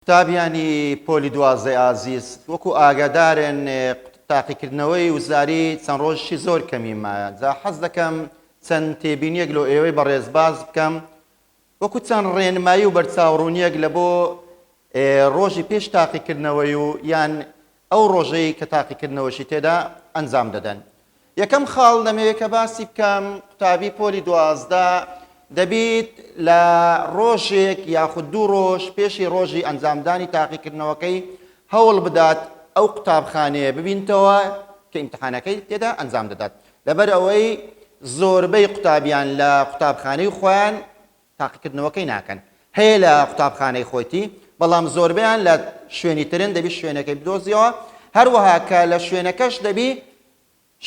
قوتابیانی پۆلی دوازدەی ئازیز، وەکو ئاگادارن تاقیکردنەوەی وزاری چەند ڕۆژیشی زۆر کەمی مایە، جا حەز دەکەم چەند تێبینیەک لۆ ئێوەی بەڕێز باس بکەم وەکو چەند ڕێنمایی و بەرچاوڕوونیەک لە بۆ ڕۆژی پێش تاقیکردنەوەی و یان ئەو ڕۆژەی کە تاقیکردنەوەشی تێدا ئەنجام دەدەن. یەکەم خاڵ دەمەوێت کە باسی بکەم قوتابی پۆلی دوازدە دەبیت لە ڕۆژێک یاخود دوو ڕۆژ پێشی ڕۆژی ئەنجامدانی تاقیکردنەوەکەی هەوڵ بدات ئەو قوتابخانەیە ببینتەوە کە ئیمتحانەکەی تێدا ئەنجام دەدات لەبەر ئەوەی زۆربەی قوتابیان لە قوتابخانەی خۆیان تاقیکردنەوەکەی ناکەن هەیە لە قوتابخانەی خۆیتی بەڵام زۆربیان لە شوێنی ترن دەبی شوێنەکەی بدۆزیەوە هەروەها کە لە شوێنەکەش دەبی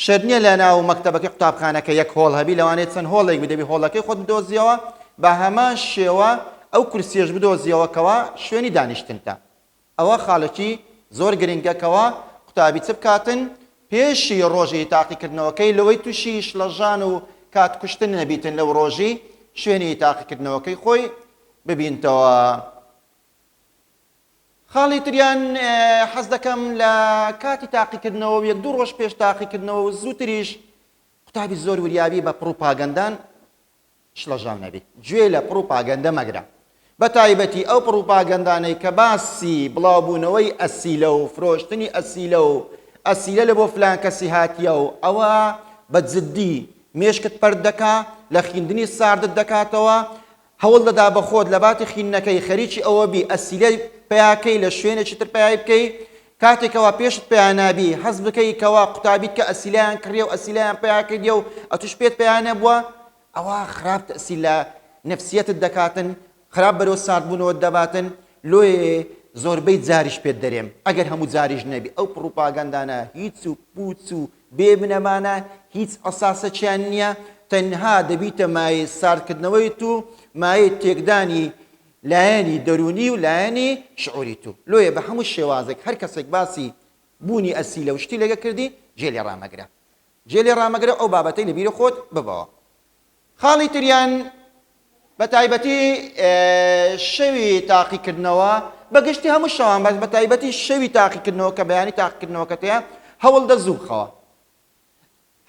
شەرنیە لە ناو مەکتتەبەکە قوتابخانەکە یەک هۆڵ هەبی لەوانێت چەند هۆڵێک بدەبی هۆڵەکەی خۆت بدۆزیەوە بە هەمان شێوە ئەو کورسیش بدۆزیەوەکەوە شوێنی دانیشتنتە ئەوە خالەکی زۆر گرنگە کەوا قوتابی چ بکاتن پێشی ڕۆژی تاقیکردنەوەکەی لەوەی توشی شڵەژان و کات کوشتن نەبیتن لەو ڕۆژی شوێنی تاقیکردنەوەکەی خۆی ببینتەوە خاڵی تریان حەز دەکەم لە کاتی تاقیکردنەوە یەک دوو ڕۆژ پێش تاقیکردنەوە و زووتریش قوتابی زۆر وریابی بە پڕوپاگەندان شڵەژاو نەبیت گوێ لە پڕوپاگەندە مەگرە بە تایبەتی ئەو پڕوپاگەندانەی کە باسی بڵاوبوونەوەی ئەسیلە و فرۆشتنی ئەسیلە و ئەسیلە لە بۆ فلان کەسی هاتیە و ئەوە بە جددی مێشکت پەرد دەکا لە خیندنی ساردت دەکاتەوە هەوڵ دەدا بە خۆت لە باتی خینەکەی خەریکی ئەوە بی ئەسیلەی پیاکەی لە شوێنێکی تر پیای بکەی کاتێ کەوا پێشت پیا نابی حەز بکەی کەوا قوتابیت کە ئەسیلایان کڕیە و ئەسیلایان پیا کردیە و ئەتوش پێت پیا نەبووە ئەوە خراپ تەسیل لە نفسیەتت دەکاتن خراپ بەرەو ساردبوونەوە دەباتن لۆێ زۆربەی جاریش پێت دەرێم ئەگەر هەموو جاریش نەبی ئەو پڕوپاگەندانە هیچ و پوچ و بێ بنەمانە هیچ ئەساسەکیان نییە تەنها دەبیتە مایەی ساردکردنەوەی تو مایەی تێکدانی لایەنی دەروونی و لایەنی شعوری تو لۆیە بە هەموو شێوازێک هەر کەسێک باسی بوونی ئەسیلە و شتی لەگە کردی جێ لێ ڕامەگرە جێ لێ ڕامەگرە ئەو بابەتەی لە بیرە خۆت ببەوە خاڵی تریان بە تایبەتی شەوی تاقی کردنەوە بە گشتی هەموو شەوان بەس بە تایبەتی شەوی تاقی کردنەوە کە بەیانی تاقی کردنەوەکەتەیە هەوڵدە زوو بخەوە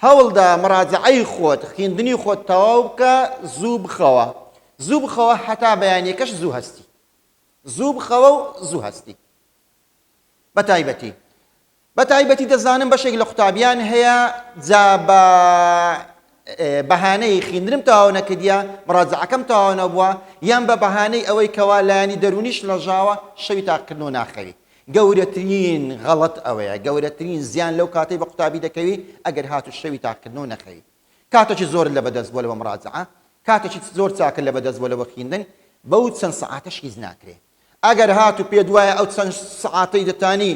هەوڵدە مراجەعەی خۆت، خویندنی خۆت تەواو بکە، زوو بخەوە، زوو بخەوە هەتا بەیانیەکەش زوو هەستی. زوو بخەوە و زوو هەستی. بە تایبەتی. بە تایبەتی دەزانم بەشێک لە قوتابیان هەیە جا بە بەهانەی خویندنم تەواو نەکردیە، مراجەعەکەم تەواو نەبووە، یان بە بەهانەی ئەوەی کەوا لایەنی دەروونیش لەژاوە، شەوی تاقیکردنەوە ناخەوی. گەورەترین غەڵەت ئەوەیە گەورەترین زیان لەو کاتەی بە قوتابی دەکەوی ئەگەر هات و شەوی تاقکردنەوە نەخەوی کاتەکی زۆرت لە بەدەست بوە لەوە مراجعە کاتەکی زۆر چاکت لە بەدەست بوە لەوە خیندن بەو چەند سەعاتەش هیچ ناکرێ ئەگەر هات و پێت وایە ئەو چەند سەعاتەی دەتانی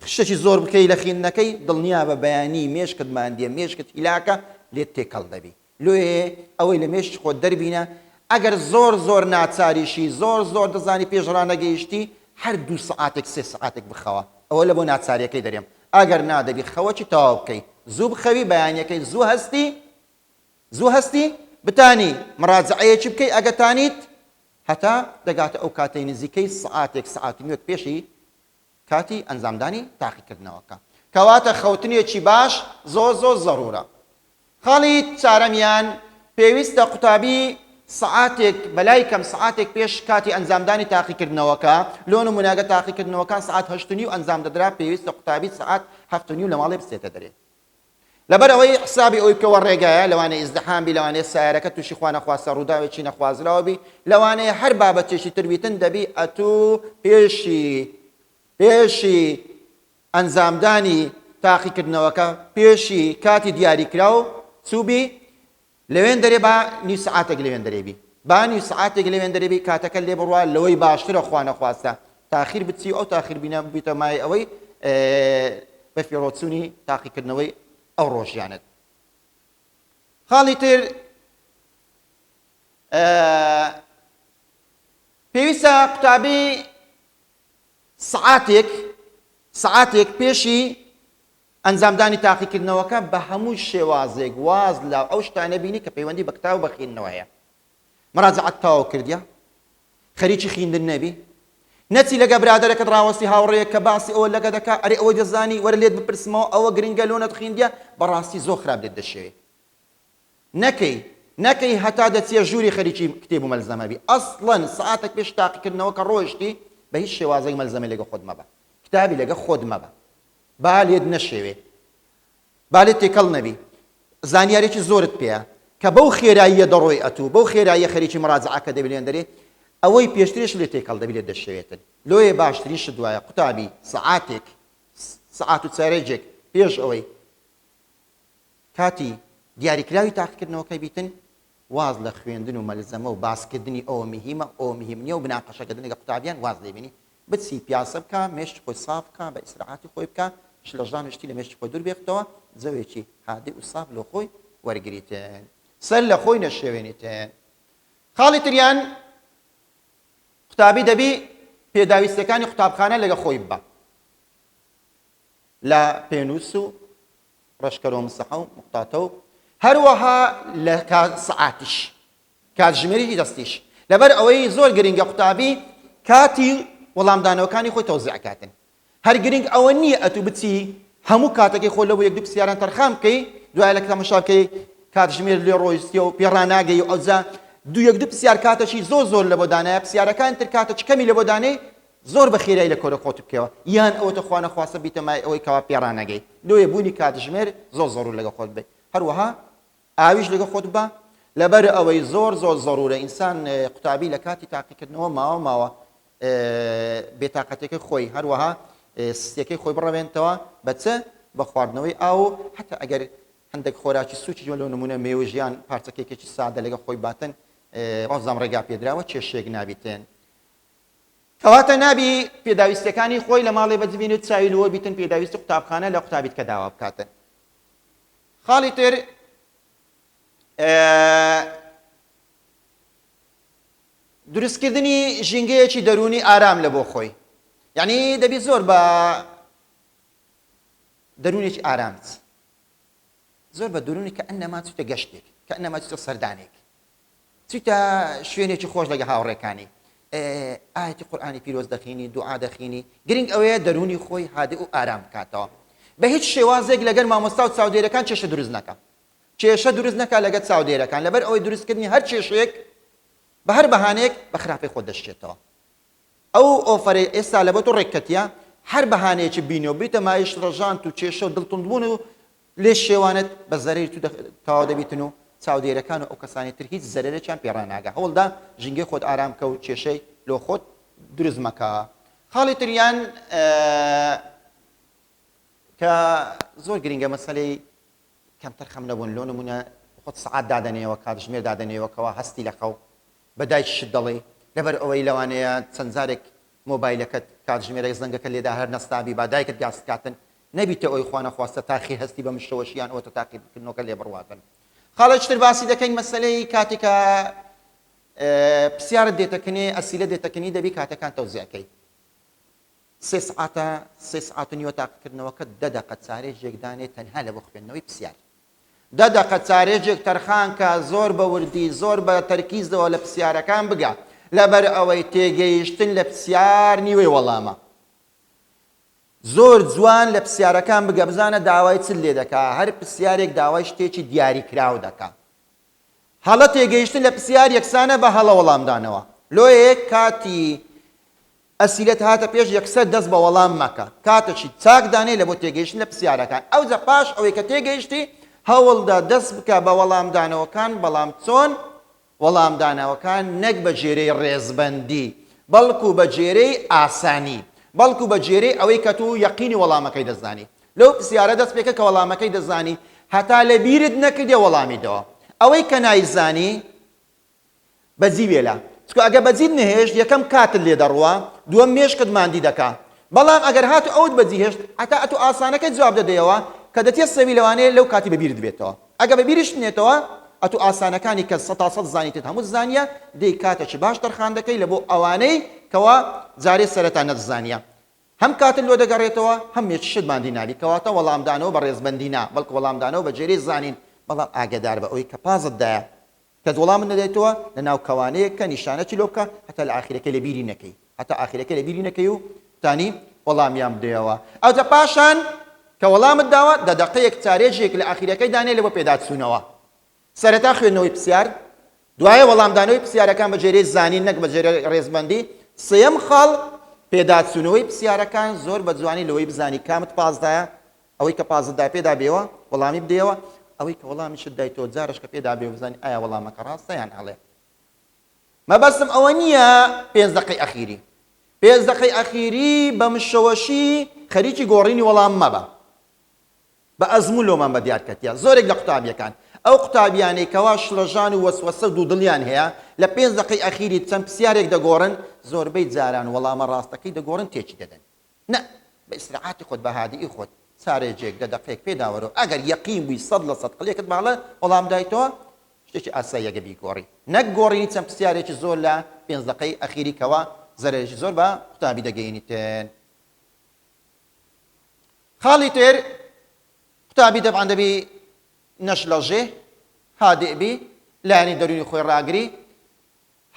خشتەکی زۆر بکەی لە خیندنەکەی دڵنیابە بەیانی مێشکت ماندیە مێشکت هیلاکە لێت تێکەڵ دەبی لۆیێ ئەوەی لە مێشک خۆت دەربینە ئەگەر زۆر زۆر ناچاریشی زۆر زۆر دەزانی پێش ڕانەگەیشتی هەر دوو سەعاتێک سێ سەعاتێک بخەوە ئەوە لە بۆ ناچاریەکەی دەرێم ئەگەر نا دەبی خەوەکی تەواو بکەی زوو بخەوی بەیانیەکەی زوو هەستی زوو هەستی بتانی مڕاجعەیەکی بکەی ئەگەتانیت هەتا دەگاتە ئەو کاتەی نزیکەی سەعاتێک سەعات و نیوەک پێشی کاتی ئەنجامدانی تاقیکردنەوەکە. کەواتە خەوتنێکی باش زۆر زۆر زەرورە. خاڵی چارەمیان، پێویستە قوتابی سەعاتێک بەلای کەم سەعاتێک پێش کاتی ئەنجامدانی تاقیکردنەوەکە، لۆ نمونە گەر تاقیکردنەوەکان سەعات هەشت و نیو ئەنجام دەدرا پێویستە قوتابی سەعات هەفت و نیو لەماڵێ بچێتە دەرێ. لەبەر ئەوەی حسابی ئەوەی بکەوە ڕێگایە لەوانەیە ئیزدحام بی لەوانەیە سایەرەکە تووشی خوا نەخواستە ڕووداوێکی نەخوازراوە بی لەوانەیە هەر بابەتێکی تر بیتن دەبی ئەتوو پێشی پێشی ئەنجامدانی تاقیکردنەوەکە پێشی کاتی دیاریکراو چووبی لەوێندەرێ با نیو سەعاتێک لەوێندەرێ بی با نیو سەعاتێک لەوێندەرێ بی کاتەکە لێ بڕوا لەوەی باشترە خوا نەخواستە تاخیر بچی و ئەو تاخیر بینە ببیتە مای ئەوەی بە فێڕۆچوونی تاقیکردنەوەی ئەو ڕۆژیانت خاڵی تر پێویستە قوتابی سعاتێک سعاتێک پێشی ئەنجامدانی تاقیکردنەوەکە بە هەموو شێوازێک واز لە ئەو شتانە بینی کە پەیوەندی بە کتاو بە خیندنەوە هەیە مراجعەت تەواو کردیە خەریکی خیندن نەبی نەچی لەگە برادەرەکەت ڕاوەستی هاوڕێیە کە باسی ئەوە لەگە دەکا ئەرێ ئەوەی دەزانی وەرە لێت بپرسمەوە ئەوە گرنگە لۆ نەتخیندیە بەڕاستی زۆر خراپ لێت دەشێوێ نەکەی نەکەی هەتا دەچیە ژووری خەریکی کتێب و مەلزەمە بی ئەسڵەن سعاتێک پێش تاقیکردنەوە کە ڕۆیشتی بە هیچ شێوازێک مەلزەمە لەگە خۆت مەبە کتابی لەگە خۆت مەبە با لێت نەشێوێ با لێت تێکەڵ نەبی زانیارێکی زۆرت پێیە کە بەو خێراییە دەڕۆی ئەتوو بەو خێراییە خەریکی مەراجعەکە دەبێن دەرێ ئەوەی پێشترێش لێ تێکەڵ دەبی لێت دەشێوێتن لۆیە باشترین شت وایە قوتابی سەعاتێک سەعات و چارێجێک پێش ئەوەی کاتی دیاریکراوی تاقیکردنەوەکە بیتن واز لە خوێندن و مەلزەمە و باسکردنی ئەوە مهمە ئەو مهمنیە و بناقەشەکردن لەگە قوتابیان واز لێبینی بچی پیاسە بکە مێشکی خۆی ساف بکە بە ئیسراحاتی خۆی بکە شلەژان و شتی لە مێشکی خۆی دوور بێختەوە جەوێکی هادی و ساف لۆ خۆی وەرگریتن سەر لە خۆی نەشێوێنیتن خاڵی تریان قوتابی دەبی پێداویستیەکانی قوتابخانە لەگە خۆی ببە لە پێنووس و ڕەشکەرۆ مسەحە و مختاتە و هەروەها لە سعاتیش کاتژمێری دەستیش لەبەر ئەوەی زۆر گرنگە قوتابی کاتی وەڵامدانەوەکانی خۆی تەوزیع کاتن هەر گرنگ ئەوە نییە ئەتوو بچی هەموو کاتەکەی خۆ لەوە یەک دوو پسیاران تەرخان بکەی دوای لە تەمەشا بکەی کاتژمێر لێ ڕۆیشتیە و پێڕا ناگەی و ئەوجا دوو یەک دوو پسیار کاتەشی زۆر زۆر لە بۆ دانایە پسیارەکان تر کاتە چ کەمی لە بۆ دانەی زۆر بە خێرای لە کۆرە خۆت بکەوە یان ئەوە تەخوانە خواسە بیتەمای ئەوەی کەوا پێڕانەگەی لۆیە بوونی کاتژمێر زۆر زۆر لەگە خۆت بێ هەروەها ئاویش لەگەڵ خۆت ببە لەبەر ئەوەی زۆر زۆر زەرورە ئینسان قوتابی لە کاتی تاقیکردنەوە ماوە ماوە بێتاقەتەکە خۆی هەروەها سیەکەی خۆی بڕەوێنتەوە بە چ بە خواردنەوەی ئاو حتا ئەگەر هەندێک خۆراکی سوچی جۆ لەو نمونە مێوژیان پارچەکێکێکی سادە لەگە خۆی باتن ڕزام ڕێگا پێدراوە کێشێک نابیتێن کەواتە نابی پێداویستەکانی خۆی لە ماڵێ بەجبینێت چاوی لەوە بیتن پێداویستی قوتابخانە لە قوتابیت کە داوا بکاتن خاڵی تر دروستکردنی ژینگەیەکی دەروونی ئارام لە بۆ خۆی یعنی دەبی زۆر بە دەروونێکی ئارامت زۆر بە دروونی کە ئەنەما چوتە گەشتێک کە ئەنەما چوتە سەردانێک چیتە شوێنێکی خۆش لەگە هاوڕێکانی ئاەتی قورآانی پیرۆز دەخینی دوعا دەخینی گرنگ ئەوەیە دەرونی خۆی هادئ و ئارام بکاتەوە بە هیچ شێوازێک لەگەر مامۆستا و چاودێرەکان کێشە دروست نەکە کێشە دروست نەکە لەگە چاودێرەکان لەبەر ئەوەی دروستکردنی هەر کێشەیەک بە هەر بەهانەیەک بە خراپی خۆ دەشتێتەوە ئەو ئۆفەرەی ئێستا لەبۆ تۆ ڕێک کەتیە هەر بەهانەیەکی بینۆ بریتە مایشت ڕەژانت و کێشە و دڵ توندبوون و لێ شێوانت بە زەرەری تو تەواو دەبیتن و چاودێرەکان و ئەو کەسانی تر هیچ زەرەرێکیان پێ ڕاناگا هەوڵدە ژینگەی خۆت ئارام کە و کێشەی لۆ خۆت دروست مەکە خاڵی تریان کە زۆر گرینگە مەسەلەی کەمتەر خەم نەبوون لۆ نمونە خۆت سەعات دادەنێەوە کاتژمێر دادەنێەوە کەوا هەستی لە خەو بە دایکیشت دەڵێی لەبەر ئەوەی لەوانەیە چەند جارێک مۆبایلەکەت کاتژمێرێک زەنگەکە لێدا هەر نەستابی با دایکت گاز کاتن نەبیتە ئۆی خوا نەخواستە تاخی هەستی بە مشتەوەش یان ئەوەتە تاقی بکردنۆکە لێ بڕواتن خاڵێک تر باسی دەکەین مەسەلەی کاتێکا پسیارت دێتە کنێ ئەسیلە دێتە کنی دەبی کاتەکان تەوزیعکەی سێ سعاتە سێ سعات و نیوە تاقیکردنەوەکە دە دەقە چارێژێک دانێ تەنها لە بۆ خوێندنەوەی پسیار دە دەقە چارێژێک تەرخان کە زۆر بە وردی زۆر بە تەرکیزەوە لە پسیارەکان بگا لەبەر ئەوەی تێگەیشتن لە پسیار نیوەی وەڵامە زۆر جوان لە پسیارەکان بگە بزانە داوای چل لێ دەکا هەر پسیارێک داوای شتێکی دیاری کراو دەکا هەڵە تێگەیشتن لە پسیار یەکسانە بە هەڵە وەڵامدانەوە لۆیەک کاتی ئەسیلەت هاتە پێش یەکسەر دەست بە وەڵام مەکە کاتەکی چاک دانێ لە بۆ تێگەیشتن لە پسیارەکان ئەوجە پاش ئەوەی کە تێگەیشتی هەوڵدە دەست بکە بە وەڵام دانەوەکان بەڵام چۆن وەڵام دانەوەکان نەک بە جێرەی ڕێزبەندی بەڵکو بە جێرەی ئاسانی بەڵکو بە جێرەی ئەوەی کە تو یەقینی وەڵامەکەی دەزانی لەو پسیارە دەست پێکە کە وەڵامەکەی دەزانی هەتا لە بیرت نەکردێ وەڵامی دەوە ئەوەی کە نایزانی بەجی وێلا چکو ئەگە بەجیت نەهێشت یەکەم کاتت لێ دەڕوا دووەم مێشکت ماندی دەکا بەڵام ئەگەر هاتو ئەوت بەجی هێشت هەتا ئەتو ئاسانەکەی جواب دەدەیەوە کە دەتێ سەوی لەوانەیە لەو کاتی بەبیرت بێتەوە ئەگە بەبیریشت نێتەوە ئەتو ئاسانەکانی کە سەتا سەد زانیتت هەموت زانیە دەی کاتە چ باش تەرخان دەکەی لەبۆ ئەوانەی کەوا جارێ سەرەتا نەت زانیە هەم کاتت لۆ دەگەڕێتەوە هەم مێچشت ماندی نابی کەواتە وەڵام دانەوە بە ڕێزبەندی نا بەڵکو وەڵام دانەوە بە جێرێ زانین بەڵام ئاگەداربە ئەوەی کە پازت دایە کەس وەڵامت نەدایتەوە لە ناو کەوانەیەک کە نیشانە چلۆ بکە هەتا لە ئاخیرەکەی لە بیری نەکەی هەتا ئاخیرەکەی لە بیری نەکەی و توانی وەڵامیان بدەیەوە ئەوجە پاشان کە وەڵامت داوە دە دەقەیەک چارێژێک لە ئاخیرەکەی دانێ لە بۆ پێداچوونەوە سەرەتا خوێندنەوەی پسیار دوایە وەڵامدانەوەی پسیارەکان بە جێرەی زانین نەک بە جێرە ڕێزمەندی سێم خاڵ پێداچوونەوەی پسیارەکان زۆر بە جوانی لەوەی بزانی کامت پازدایە ئەوەی کە پازت دا پێدا بێوە وەڵامی بدەیەوە، ئەوەی کە وەڵامیشت دایتەوە جارەش کە پێدا بێوە بزانین ئایا وەڵامەکە ڕاستە یان هەڵەیە. مەبەستم ئەوە نییە پێنج دەقەی ئەخیری. پێنج دەقەی ئەخیری بە مشەوەشی خەریکی گۆڕینی وەڵام مەبە. بە ئەزموون لۆمان بە دیار کەتیە. زۆرێک لە قوتابییەکان، ئەو قوتابییانەی کەوا شڵەژان و وەسوەسە و دوودڵیان هەیە، لە پێنج دەقەی ئەخیری چەند پرسیارێک دەگۆڕن، زۆربەی جاران وەڵامە ڕاستەکەی دەگۆڕن تێکی دەدەن. نا بە ئیسراحاتی خۆت بە هادیی خۆت سارێجێک دە دەقێک پێ داوەرۆ ئەگەر یەقین بووی سەد لە سەد قلێکت ماڵە وەڵام دایتەوە شتێکی ئاساییە گە بیگۆڕی نەک گۆڕینی چەند پسیارێکی زۆر لە پێنج دەقەی ئەخیری کەوا زەرەرێکی زۆر بە قوتابی دەگەینیتن خاڵی تر قوتابی دەبعەن دەبی نەشلەژێ هادئ بی لایەنی دەروونی خۆی ڕاگری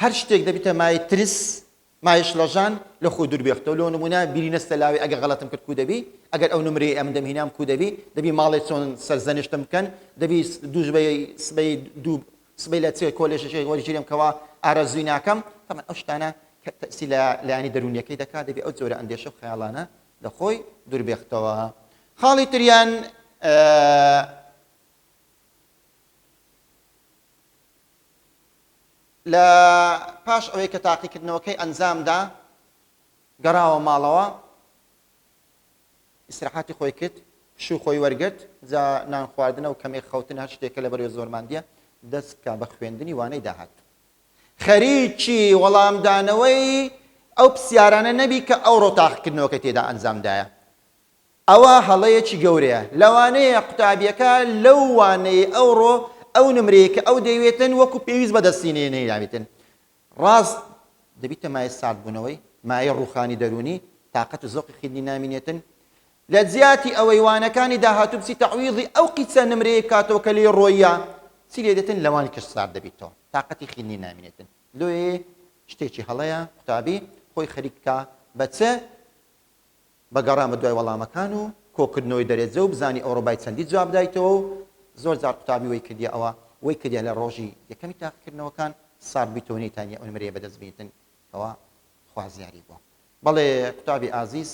هەر شتێک دەبیتە مایەی ترس، مایەی شڵەژان، لە خۆ دوور بێختەوە، لۆ نموونە بیری نەستە لاوی ئەگەر غەڵەتم کرد کوو دەبی؟ ئەگەر ئەو نمرەی ئەمن دەم هینام کوو دەبی؟ دەبی ماڵێ چۆن سەرزەنشتم بکەن؟ دەبی دوو سبەی سبەی دوو سبەی لە چێ کۆلێژێکی وەرگیرێم کەوا ئارەزووی ناکەم؟ تەبعەن ئەو شتانە کە تەئسیر لە لایەنی دەروونییەکەی دەکا دەبی ئەو جۆرە ئەندێشە و خەیاڵانە لە خۆی دوور بێختەوە. خاڵی تریان ئە. لە پاش ئەوەی کە تاقیکردنەوەکەی ئەنجامدا گەڕاوە ماڵەوە ئیسراحاتی خۆی کرد پشوو خۆی وەرگرت جا نان خواردنە و کەمێک خەوتن هەر شتێکە لە بەرێ زۆرماندیە دەست بکە بە خوێندنی وانەی داهات خەریکی وەڵامدانەوەی ئەو پرسیارانە نەبی کە ئەو ڕۆتاقکردنەوەکە تێدا ئەنجامدایە ئەوە هەڵەیەکی گەورەیە. لەوانەیە قوتابیەکە لەو وانەی ئەوڕۆ ئەو نمرەی کە ئەو دەیوێتن وەکو پێویست بەدەستی نەهێنابێتن. ڕاست دەبیتە مایەی ساردبونەوەی، مایەی ڕوخانی دەرونی، تاقەت و زەوقی خویندنی نامینێتن. لە جیاتی ئەوەی وانەکانی داهاتو بچی تەعویضی ئەو قیچە نمرەیەی بکاتەوە کە لێی ڕۆییە، چی لێ دێتن لەوانی کەش سارد دەبیتەوە تاقەتی خویندنی نامینێتن. لۆیێ شتێکی هەڵەیە قوتابی خۆی خەریک بکا بە چ بە گەڕان بە دوای وەڵامەکان و کۆکردنەوەی دەرێجە و بزانین ئەوڕۆ بای چەندی جواب دایتەوە و زۆر جار قوتابی وەی کردیە ئەوە وەی کردیە لە ڕۆژی یەکەمی تاقیکردنەوەکان سارد بیتەوە نەیتانیە ئەو نمرەیە بەدەست بینتن کەوا خوازیاری بووە. بەڵێ قوتابی ئازیز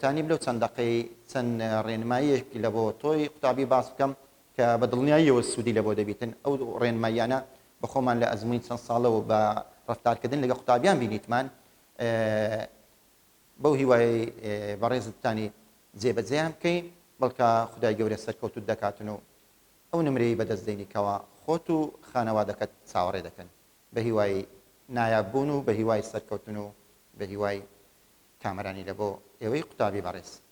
تانیم لەو چەند دەقەی چەند ڕێنماییەک لە بۆ تۆی قوتابی باس بکەم کە بە دڵنیاییەوە سوودی لە بۆ دەبیتن ئەو ڕێنماییانە بە خۆمان لە ئەزموونی چەند ساڵەوە بە ڕەفتارکردن لەگە قوتابیان بینیتمان بەو هیوایەی بەڕێز گوتانی جێ بەجێیان بکەی بەڵکە خودای گەورە سەرکەوتوت دەکاتن و ئەو نمرەی بەدەست دێنی کەوا خۆت و خانەوادەکەت چاوەڕێ دەکەن بەهیوای نایاب بوون و بەهیوای سەرکەوتن و بەهیوای کامەرانی لەبۆ ئێوەی قوتابی بەڕێز.